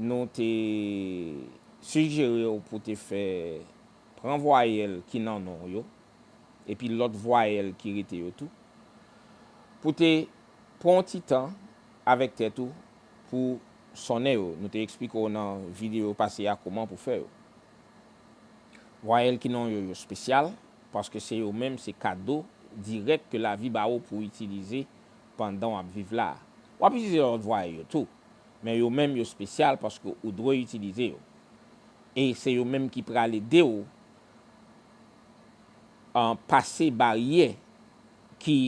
nou te sijere w pou te fè pran vwayèl ki nan non w yo, epi lòt vwayèl ki rete yo tou, pou te pran yon ti tan avèk tèt ou pou sonnen yo. Nou te eksplike w nan videyo pase a kouman pou fè yo. Vwayèl ki nan yo yo spesyal, paske se yo menm se kado dirèk ke lavi ba ou pou w itilize pandan w ap viv la a. W ap itilize lòt vwayèl yo tou, Men yo menm yo spesyal paske ou dwe itilize yo. E se yo menm ki pral ede w pase baryè ki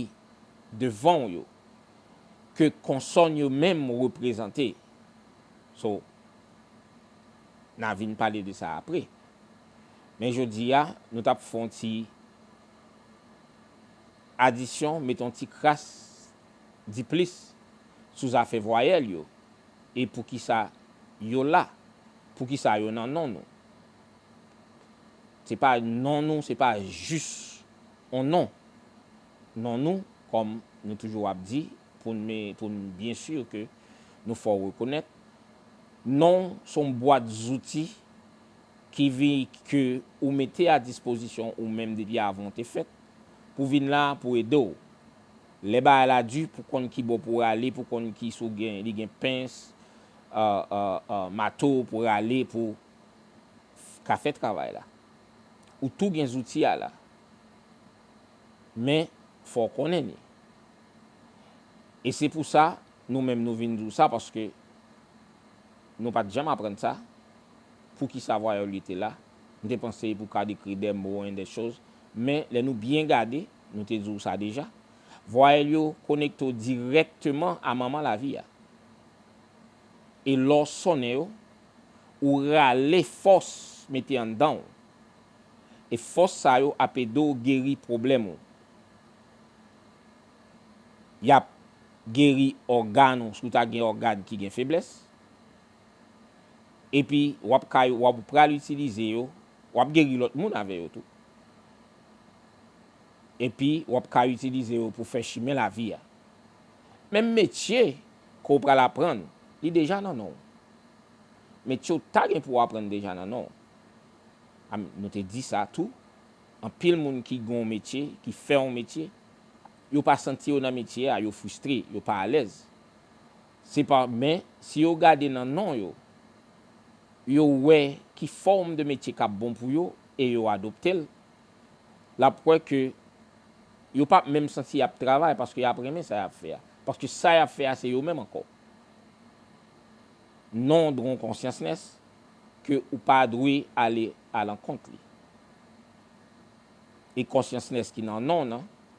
devan w yo ke konsòn yo menm reprezante. So, na vin pale de sa apre. Men jodi a, nou tap fon ti adisyon, met on ti kras di plis sou zafè vwayèl yo e poukisa yo la, poukisa yo nan non nou. Se pa non nou se pa jis on non. Non nou, kòm nou toujou ap di pou n pou n byen si ke nou fè w rekonèt, non s on bwat zouti ki vin ke ou mete a dispozisyon ou menm depi avan w te fèt pou vin la pou ede w Lè bagay la di pou konn ki bò pou rale pou konn ki si w gen li gen pens mato pou rale pou ka fè travay la. Ou tou gen zouti a la. Men fò w konnen li. E se pou sa nou menm nou vin di w sa paske nou pat janm aprann sa pou ki sa vwayòl li te la. M te panse pou ka dekri dè mo en dè choz men lè nou byen gade. Nou te di w sa deja. Vwayèl yo konekte w dirèkteman a manman lavi a. E lè w sonnen yo, ou rale fòs mete anndan w. E fòs sa yo ap ede w geri pwoblèm ou. Y ap geri ògàn ou si w ta gen ògàn ki gen feblès. Epi w ap ka yo, w ap pral itilize yo, w ap geri lòt moun avè yo tou. epi w ap ka itilize yo pou fè chimen lavi a. Menm metye ke w pral aprann, li deja nan non w. Metye w ta gen pou w aprann deja nan non w. A Nou te di sa tou, anpil moun ki gen yon metye, ki fè yon metye, yo pa santi yo nan metye a, yo fristre, yo pa alèz. Se pa men, si yo gade nan non yo, yo wè ki fòm de metye kap bon pou yo e yo adoptel, lap wè ke yo pap menm santi yap travay paske yap renmen sa yap fè a. Paske sa yap fè a se yo menm ankò. Non dron konsyans-ness ke ou pa dwe ale alankont li. E konsyans-ness ki nan non nan,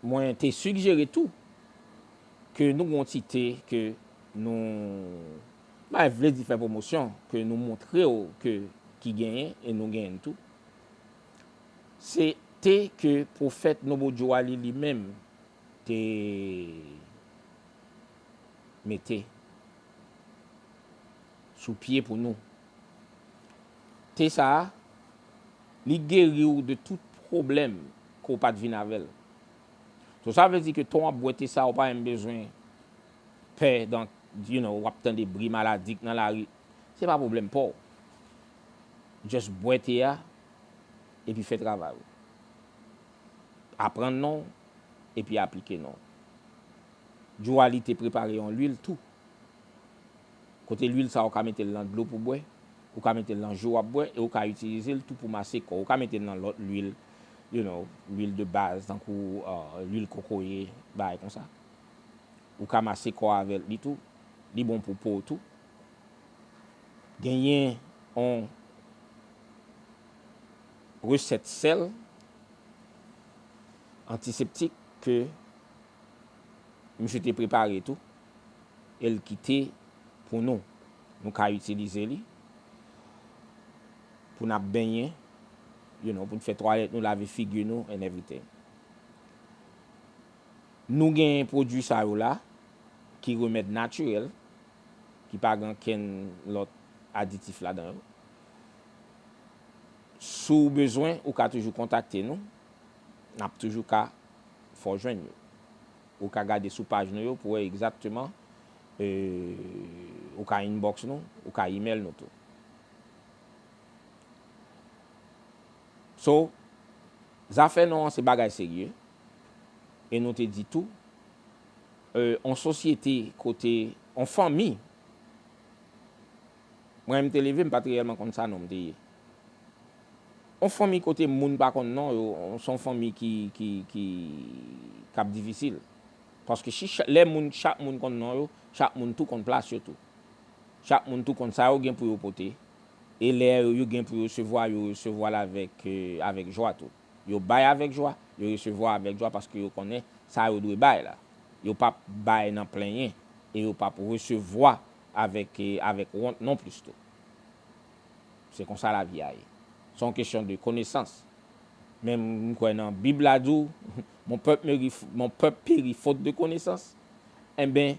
Mwen te sigjere tou ke nou gen yon ti te ke nou, mpa vle di fè pwomosyon, ke nou montre'w ke ki genyen e nou genyen'l tou. Se te ke Pwofèt Nobo Djowali li menm te mete sou pye pou nou. Te sa a. Li geri w de tout pwoblèm ke w pat vin avè l. So sa vle di ke tan w ap bwè te sa ou pa menm bezwen pè dan you know wap tande bri maladi k nan lari. Se pa pwoblèm pa w. Just bwè te a epi fè travay ou. Aprann non w epi aplike non w. Djouali te prepare yon lwil tou Kote lwil sa ou ka mete l nan dlo pou bwè, ou ka mete l nan jou wap bwè e ou ka itilize l tou pou mase kò ou ka mete l nan lòt lwil you know lwil de baz tankou lwil kokoye bagay konsa ou ka mase kò avèl li tou li bon pou po w tou genyen on resèt sèl antiseptik ke Misye te prepare tou e l kite pou nou. Nou ka itilize li pou n ap benyen, you know, pou n fè twalèt nou, lave figi nou and everything. Nou gen pwodui sa yo la ki remèd natirèl, ki pa gen ankenn lòt aditif ladan yo. Si w bezwen, ou ka toujou kontakte nou. N ap toujou ka fè w jwenn yo. Ou ka gade sou paj nou yo pou wè egzakteman, ou ka inbox nou, ou ka email nou tou. So, zafè non an se bagay serye e nou te di tou, yon sosyete kote, yon fanmi, Mwen lè m te leve m pat reyèlman konn sa non m te ye. Yon fanmi kote moun pa konn non yo se yon fanmi ki ki k ap difisil. Paske si lè moun chak moun konn non yo, chak moun tou konn plas yo tou. Chak moun tou konn sa yo gen pou yo pote. E lè yo gen pou yo resevwa, yo resevwa l avèk avèk jwa tou. Yo bay avèk jwa, yo resevwa avèk jwa paske yo konnen sa yo dwe bay la. Yo p ap bay nan plenyen e yo p ap resevwa avèk avèk wont non plis tou. Se konsa lavi a ye. Se yon kesyon de konesans. Men m kwè nan bib la di w mon pèp meri mon pèp peri fot de konesans enben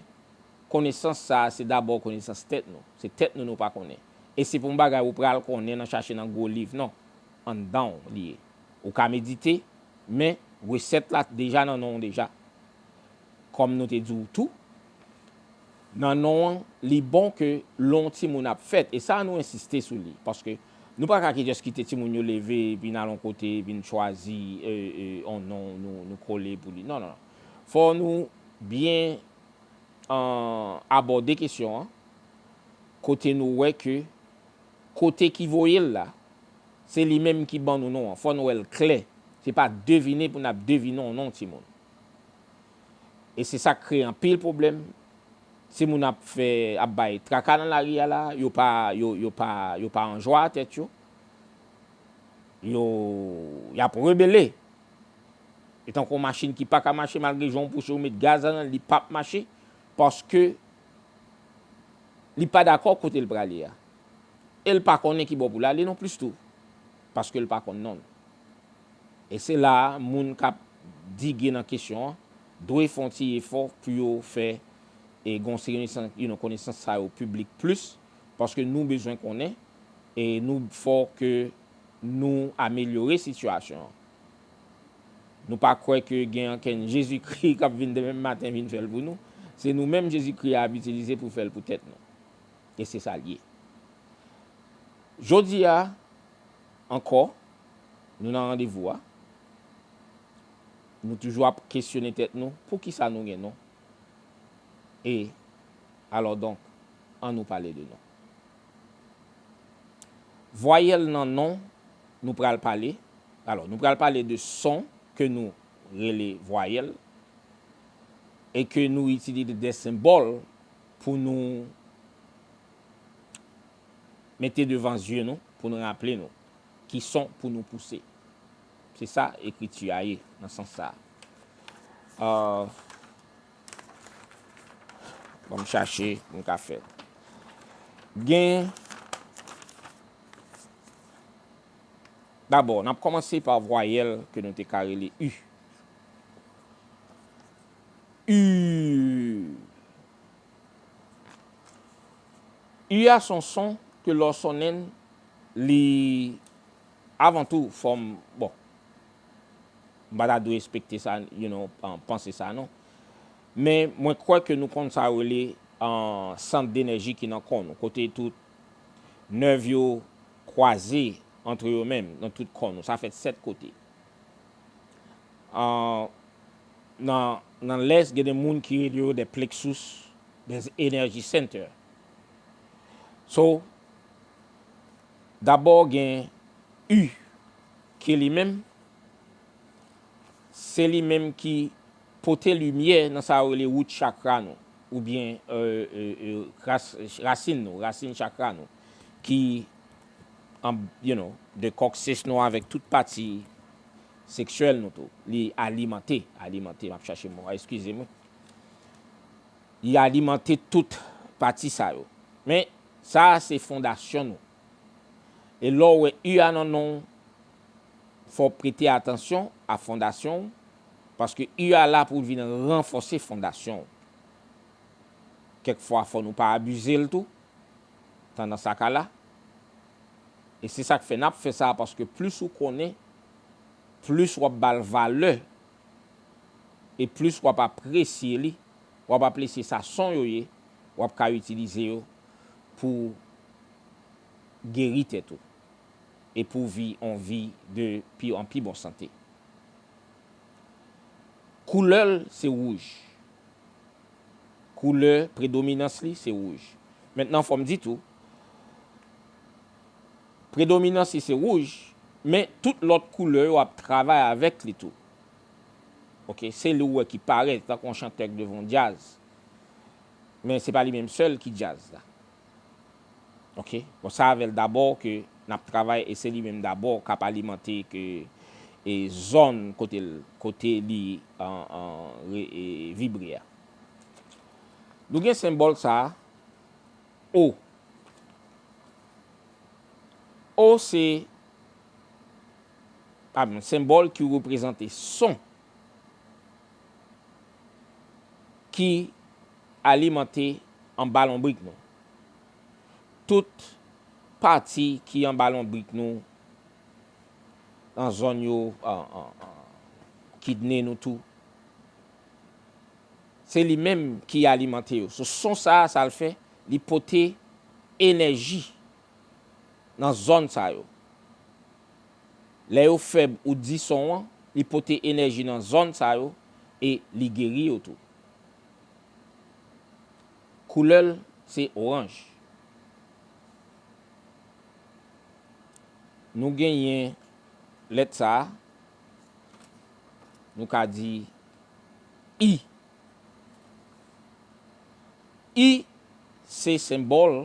konesans sa se dabò konesans tèt nou. Se tèt nou nou pa konnen. E se pou yon bagay ou pral konnen nan chache nan gwo liv non. Anndan w li ye. Ou ka medite men resèt la deja nan non w deja. Kòm nou te di w tou. Nan non an, li bon ke lè yon timoun ap fèt, e sa a nou ensiste sou li, paske nou pa ka ki jès kite timoun yo leve vin al yon kote, vin chwazi yon non nou kole pou li. Non, non, non. Fò nou byen abòde kesyon an, kote nou wè ke kote ki voye l la, se li menm ki ban nou non an. Fò nou wè l klè. Se pa devine pou n ap devine yon non timoun. e se sak kreye anpil pwoblèm, timoun ap fè ap bay traka nan lari a la, yo pa yo pa yo pa an jwa a tèt yo, yo yap rebele, e tankou yon machin ki paka mache malgre jan ou pouse ou met gaz ladan l li pap mache paske li pa dakò kote l prale a, e l pa konnen ki bò pou l ale non plis tou paske l pa konn non l. E se la a moun k ap dige nan kesyon an dwe fè yon ti efò pou yo fè e gen yon seri you know konesans sa yo piblik plis paske nou bezwen konnen e nou fò ke nou amelyore sitiyasyon an. Nou pa kwè ke gen ankenn Jezikri k ap vin demen maten vin fè l pou nou. Se nou menm Jezikri a ap itilize pou fè l pou tèt nou. E se sa l ye. Jodi a ankò. Nou nan randevou a. Nou toujou ap kesyone tèt nou, poukisa nou gen nou? E, alò donk, an nou pale de nou. Vwayèl nan non nou pral pale, alò, nou pral pale de son ke nou rele vwayèl e ke nou itilize de senbòl pou nou. mete devan zye nou pou n raple nou ki son pou nou pouse. Se sa ekriti a ye nan sans sa a. Ban m chache pou m ka fè. Gen. Dabò, n ap kòmanse pa vwayèl ke nou te ka rele u. U. U a son son ke lè w sonnen l, li avan tou fòm, bon, m pa ta dwe espekte sa, you know, panse sa non. Men mwen kwè ke nou konn sa yo rele sant denèji ki nan kò nou, kote tout nèv yo kwaze antre yo menm nan tout kò nou. Sa fèt 7 kote. Nan lès gen de moun ki rele yo des plexus des energy center. So, dabò gen U ki li menm, se li menm ki pote limyè nan sa yo rele root chakra nou, oubyen rasin nou, rasin chakra nou. anb you know de kòk sech nou avèk tout pati seksyèl nou tou li alimante alimante map chache mo a eskize m wi li alimante tout pati sa yo men sa a se fondasyon nou e lè w wè u a nan non w fò w prete atansyon a fondasyon w paske u a la pou l vin ranfòse fondasyon w kèk fwa fò nou pa abize l tou tan nan sa ka la e se sak fè nap fè sa paske plis ou konnen plis wap bal valè e plis wap apresye li wap aplesye sa son yo ye wap ka itilize yo pou geri tèt ou e pou vi on vi de pi an pi bon sante. Koulè l se wouj. Koulè predominans li se wouj. Mentnan fò m di tou, predominans li se wouj, men tout lòt koulè yo ap travay avèk li tou. Ok, se li ou wè ki parèt tankou yon chantè k devan yon djaz. Men se pa li menm sèl ki djaz la. Ok bon sa avèl dabò ke nap travay e se li menm dabò kap alimante ke e zòn kotel kote li vibre a. Nou gen senbòl sa O. O se yon senbòl ki reprezante son ki. Alimante anba lonbrik nou. Tout pati ki anba lonbrik nou, nan zòn yo, kidne nou tou, se li menm ki alimante yo. So son sa a, sa l fè, li pote enèji nan zòn sa yo. Lè yo fèb ou di son an, li pote enèji nan zòn sa yo e li geri yo tou. Koulè l se oranj. Nou genyen lèt sa a. Nou ka di I. I se senbòl.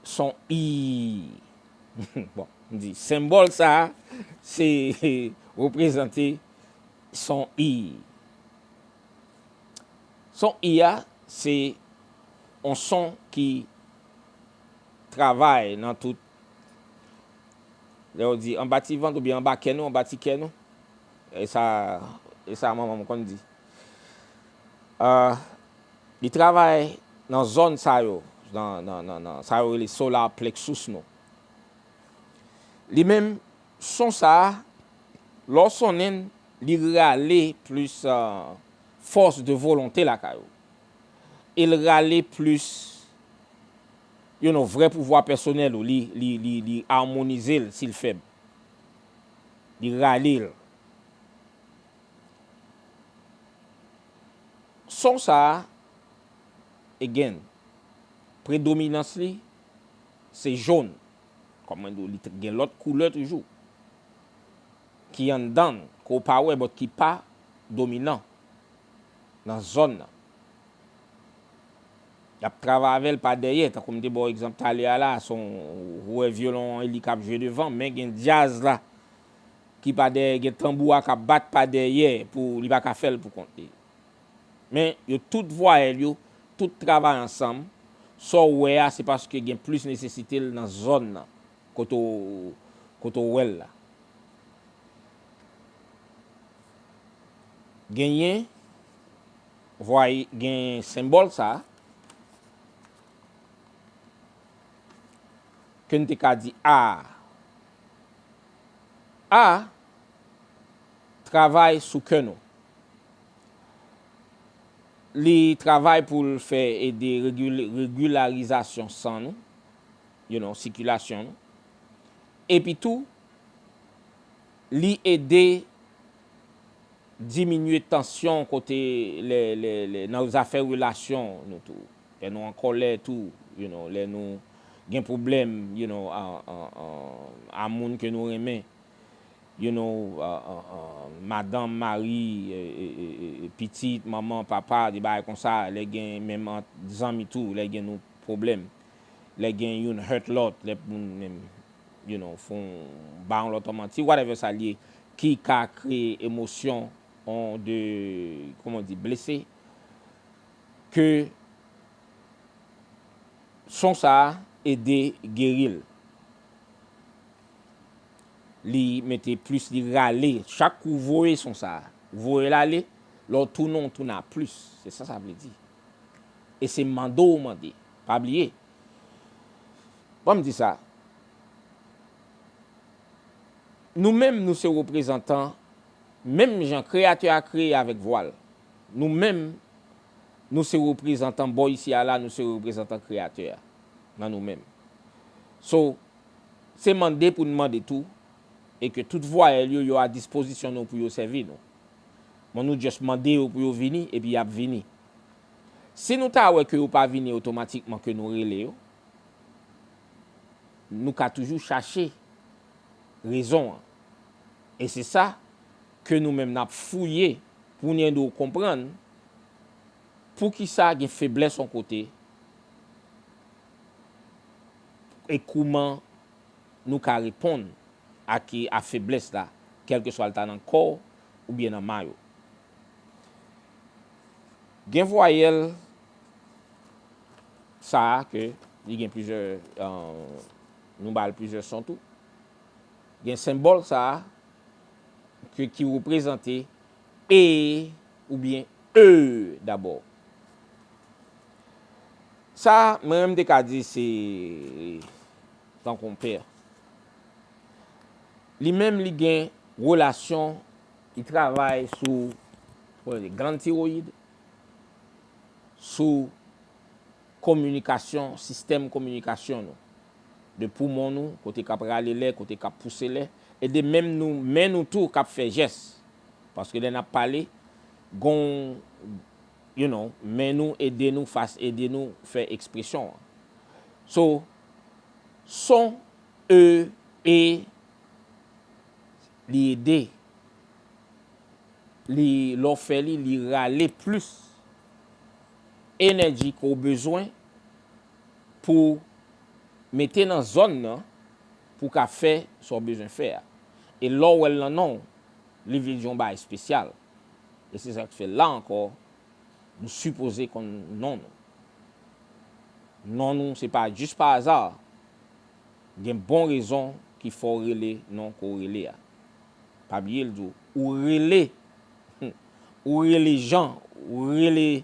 son i. Bon, m di senbòl sa a se reprezante son i. Son i a se yon son ki travay nan tout, lè yo di anba ti vant oubyen anba kè nou, anba ti kè nou, e sa manman m konn di. Li travay nan zòn sa yo, nan sa yo rele solar plexus nou. Li menm, son sa a, lè w sonnen l, li rale plis fòs de volonte lakay ou. E l rale plis you know vrè pouvwa pèsonèl ou. Li amonize l si l fèb. Li rale l. Son sa a, again, predominans li se jón. Kòm mwen di w, li gen lòt koulè toujou ki anndan l, ke w pa wè but ki pa dominan nan zòn nan. Y ap travay avè l pa dèyè. Tankou m te ba w egzanp talè a la a, son, ou wè vyolon an e li k ap jwe devan, men gen djaz la. ki pa dèyè gen tanbou a kap bat pa dèyè pou li pa ka fèl pou kont li men yo tout vwayèl yo tout travay ansanm sa w wè a se paske gen plis nesesite l nan zòn nan kote w kote w wè l la genyen vway gen senbòl sa ke n te ka di a. A travay sou kè nou. Li travay pou l fè ede regilarizasyon san nou, you know, sikilasyon nou. Epi tou, li ede diminye tansyon kote lè nan zafè relasyon nou tou. Lè nou an kòlè tou you know, lè nou gen pwoblèm you know a moun ke nou renmen you know madanm, mari, pitit, manman, papa, de bagay konsa, lè gen menm ant zanmi tou lè gen nou pwoblèm, lè gen youn hurt lòt, lè moun menm you know fon ba yon lòt yon manti whatever sa l ye ki ka kreye emosyon on de kòman w di blese ke son sa ede geril. Li mete plus li rale chak kou voye son sa ou voyel ale lè w tounen w tounen a plus se sa sa vle di e se mande w mande pa bliye banm di sa nou menm nou se reprezantan menm jan kreyatè a kreye avèk vwa l. Nou menm, nou se reprezantan bò isi a la, nou se reprezantan Kreyatè a nan nou menm. So, se mande pou n mande tou e ke tout vwayèl yo, yo a dispozisyon nou pou yo sèvi nou. Bon, nou just mande yo pou yo vini epi y ap vini. Si nou ta wè ke yo pa vini otomatikman ke nou rele yo, nou ka toujou chache rezon an. E se sa. ke nou menm nap fouye poun ede w konprann poukisa gen feblès on kote e kouman nou ka reponn ak a feblès la kèlkeswa l ta nan kò w oubyen nan may ou. Gen vwayèl sa a ke li gen plizyè nou ba l plizyè son tou. Gen senbòl sa a. ke ki reprezante e oubyen e dabò. Sa, mwen menm m te ka di se tankou yon pè. Li menm li gen relasyon, li travay sou gland tiroyid, sou kominikasyon, sistèm kominikasyon nou. de poumon nou, kote k ap rale lè, kote k ap pouse lè, e de menm nou, men nou tou k ap fè jès. Paske lè n ap pale, gonw you know, men nou ede nou, fas ede nou fè ekspresyon an. So, son, e, e, li ede, li, lè w fè li, li rale plis enèji ke w bezwen pou mete nan zòn nan pou ka fè sa w bezwen fè a. E lè w wè l nan non w, li vle di yon bagay espesyal. E se sa k fè la ankò, nou sipoze konn non nou. Non nou se pa jis pa aza. Gen bon rezon ki fè w rele non ke w rele a. Pa bliye l di w, ou rele, ou rele Jan, ou rele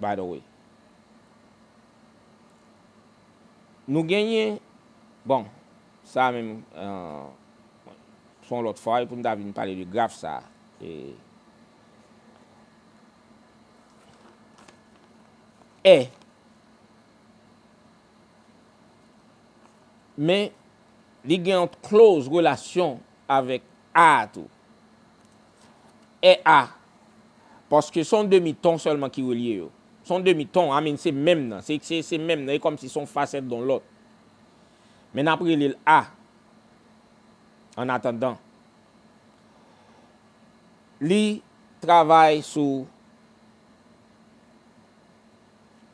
by the way. Nou genyen, bon, sa a menm se yon lòt fwa pou nou ta vin pale de graf sa a. E. Men, li gen yon close relasyon avèk A a tou. è a, paske son demi ton sèlman ki relye yo. Son demi ton, a min se menm nan, se, se, se menm nan, e kòmsi son fasèt don lòt. Men n'ap rele'l a, an atandan. Li travay sou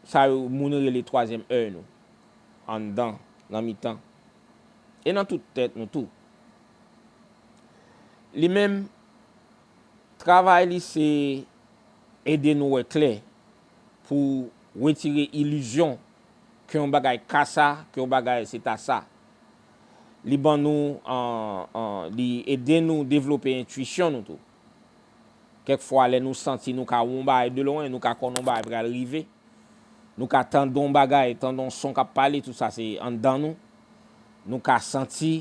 sa yo moun rele twazyèm èy nou, anndan, nan mitan, e nan tout tèt nou tou. Li menm, travay li se ede nou wè klè pou wetire ilizyon ke yon bagay ka sa, ke yon bagay se ta sa. Li ban nou, li ede nou devlope entwisyon nou tou. Kèk fwa lè nou santi nou ka wè yon bagay de lwen, nou ka konn yon bagay pral rive, nou ka tande yon bagay, tande yon son k ap pale, tout sa se anndan nou. Nou ka santi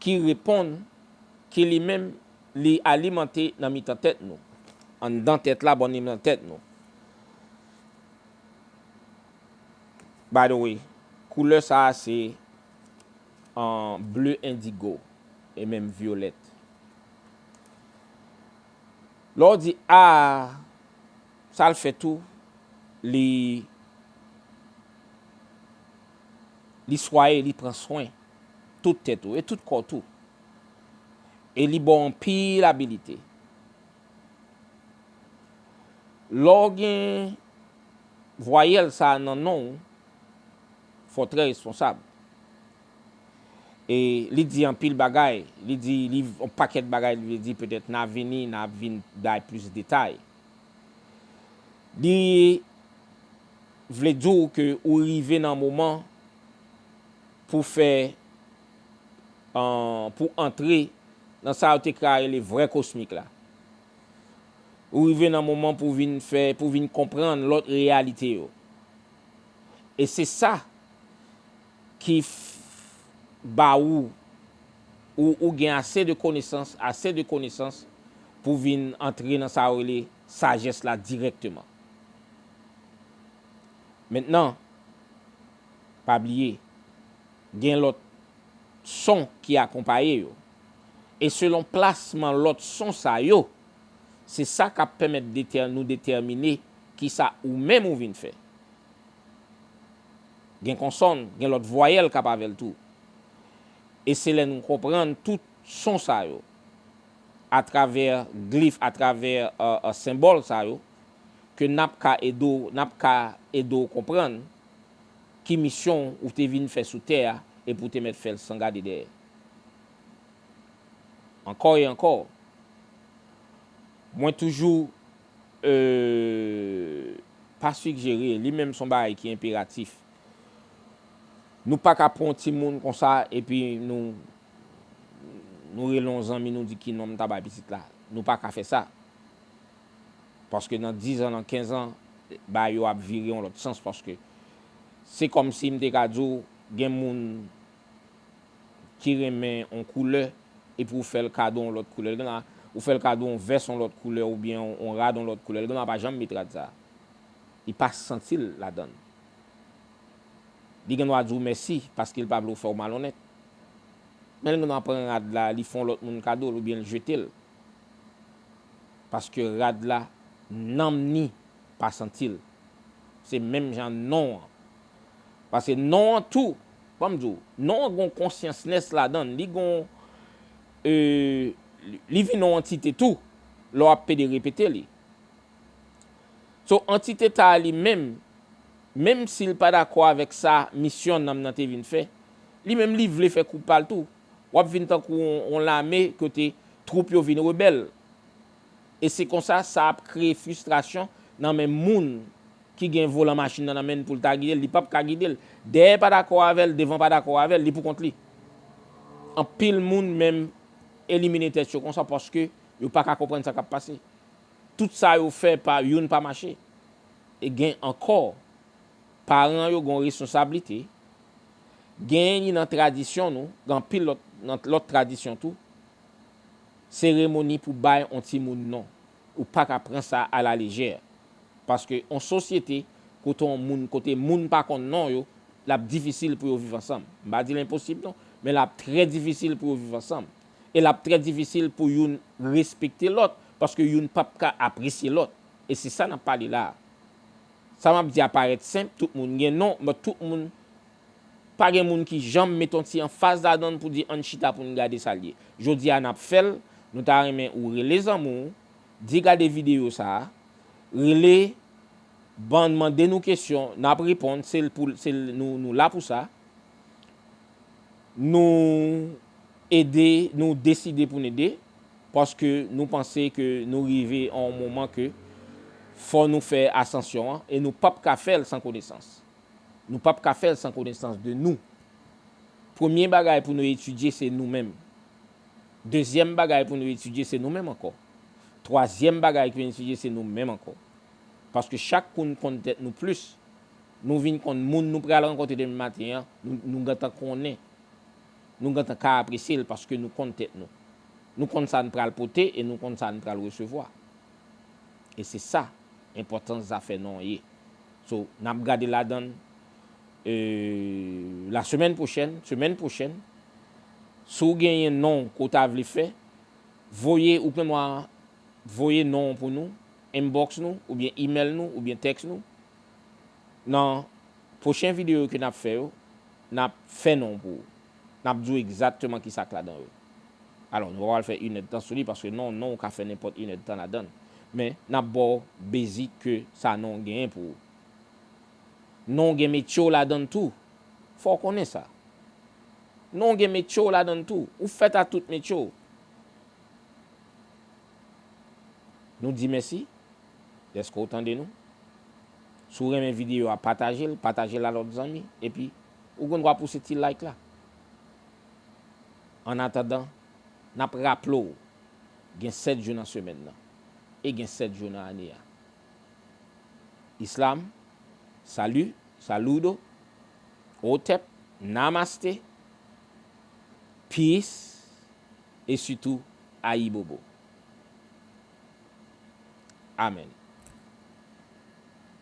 ki reponn, ki li menm li alimante nan mitan tèt nou, anndan tèt la bò niman tèt nou. By the way, koulè sa a se an bleu indigo e menm violèt. Lè w di a, sa l fè tou, li. Li swaye, li pran swen tout tèt ou e tout kò tou. E li ba w anpil abilite. Lè w gen vwayèl sa a nan non ou, fò w trè responsab. E li di anpil bagay, li di li yon pakèt bagay li vle di petèt nan avini nan ap vin bay plis detay. Li. vle di w ke ou rive nan moman pou fè pou antre nan sa yo te ka rele vrè kosmik la. Ou rive nan moman pou vin fè, pou vin konprann lòt reyalite yo. E se sa ki ba ou, ou gen ase de konesans, ase de konesans pou vin antre nan sa yo rele Sajès la dirèkteman. Mentnan, pa bliye, gen lòt son ki akonpaye yo. E selon plasman lòt son sa yo, se sa k ap pèmèt nou detèmine ki sa ou menm ou vin fè. Gen konsòn, gen lòt vwayèl k ap avè l tou. E se lè nou konprann tout son sa yo atravè glif, atravè senbòl sa yo, ke n ap ka ede w, n ap ka ede w konprann ki misyon ou te vin fè sou tè a epi ou te mèt fè l san gade dèyè. Ankò e ankò, mwen toujou ee pa sigjere, li menm s on bagay ki enperatif, Nou paka pran yon timoun konsa epi nou nou rele yon zanmi nou di ki non m ta bay pitit la. Nou paka fè sa. Paske nan dizan, nan kenzan, bagay yo ap vire yon lòt sans paske se kòm si m te ka di w gen moun ki renmen yon koulè epi ou fè l kado yon lòt koulè. Li gen lè a ou fè l kado yon vès yon lòt koulè oubyen yon rad yon lòt koulè. Li gen lè a pa janm met rad sa a. Li pa santi l ladan l. Li gen dwa di w mèsi paske l pa vle w fè w malonnèt. Men l gen dwa pran rad la, li fè yon lòt moun kado l oubyen l jete l. Paske rad la, nanm ni pa santi l. Se menm jan non an. Paske non an tou, ban m di w, non an gen yon konsyans-ness ladan l. Li gen yon, ee, li vin yon antite tou lè w ap pede repete li. So, antiteta a li menm, menm si l pa dakò avèk sa misyon nanm nan te vin fè, li menm li vle fè kou pa l tou. W ap vin tankou yon lame kote twoup yo vin rebèl. E se konsa sa ap kreye fristrasyon nan men moun ki gen volan machin nan nan men l pou l ta gide l. Li pap ka gide l. Dèyè pa dakò avè l, devan pa dakò avè l, li pou kont li. Anpil moun menm elimine tèt yo konsa paske yo pa ka konprann sa k ap pase. Tout sa yo fè pa youn pa mache. E gen ankò, paran yo gen yon resonsablite, genyen li nan tradisyon nou, gen anpil lòt nan lòt tradisyon tou, seremoni pou bay yon timoun non. Ou pa ka pran sa a la lejè. Paske yon sosyete kote yon moun, kote moun pa konn non yo, l ap difisil pou yo viv ansanm. M pa di l enposib non, men l ap trè difisil pou yo viv ansanm. e lap trè difisil pou youn respekte lòt paske youn pap ka apresye lòt e se sa nap pale la a. Sa map di a parèt senp, tout moun gen non but tout moun pa gen moun ki janm met on ti anfaz ladan l pou di ann chita pou n gade sa l ye. Jodi a nap fè l, nou ta renmen ou rele zanmi w, di gade videyo sa a, rele ban mande nou kesyon nap reponn se l pou l se l nou la pou sa. Nou. Ede nou deside pou n ede, paske nou panse ke nou rive an yon moman ke fò nou fè asansyon an, e nou pap ka fè l san konesans. Nou pap ka fè l san konesans de nou. Premye bagay pou nou etidye se nou menm. Dezyèm bagay pou nou etidye se nou menm ankò. Twazyèm bagay pou nou etidye se nou menm ankò. Paske chak kou n konn tèt nou plis, nou vin konn moun nou pral rankontre demen maten an, nou gentan konnen. nou gentan ka apresye l paske nou konn tèt nou. Nou konn sa n pral pote e nou konn sa n pral resevwa. E se sa enpòtans zafè non an ye. So, n ap gade ladan l lasemèn pwochèn, semèn pwochèn. Si w genyen non ke w ta vle fè, voye, ou knnen mwa, voye non an pou nou, inbox nou, oubyen email nou, oubyen text nou. Nan pwochen video yo ke nap fè yo, nap fè non pou ou. Nap di ou egzatteman ki sak ladan yo. Alò nou pa pral fè inèd tan sou li paske non non ou ka fè nenpòt inèd tan ladann. Men nap ba w basic ke sa non genyen pou ou. Non gen metye w ladann tou. Fò w konnen sa. Non gen metye w ladann tou. Ou fèt a tout metye w. Nou di mèsi dèske w tande nou. Si w renmen videyo a, pataje l, pataje l a lòt zanmi. Epi, ou gen dwa pouse ti like la. Annatandan, n ap raple w, gen 7 jou nan semèn nan e gen 7 jou nan ane a. Islam, Salu, Saludo, Hotep, Namaste, Peace. e sitou ayibobo. Amen.